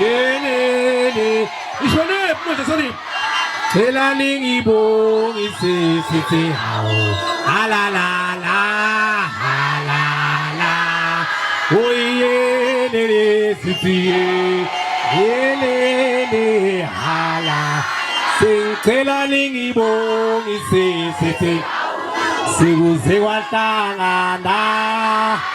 Yelele ishone manje sani Cela ningibongi sisi sithi hawu la la la la la Oyelele sisi yelele hala Sicela ningibongi sisi sithi sikuze kwahlangana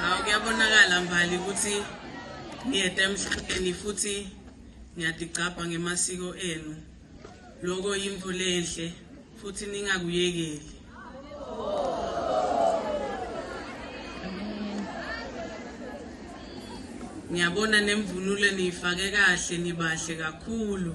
hawu kuyabonakala mbali ukuthi niyede emhlabeni futhi niyadigcabha ngemasiko enu loko yimvu lenhle futhi ningakuyekeli ngiyabona nemvunulo niyifake kahle nibahle kakhulu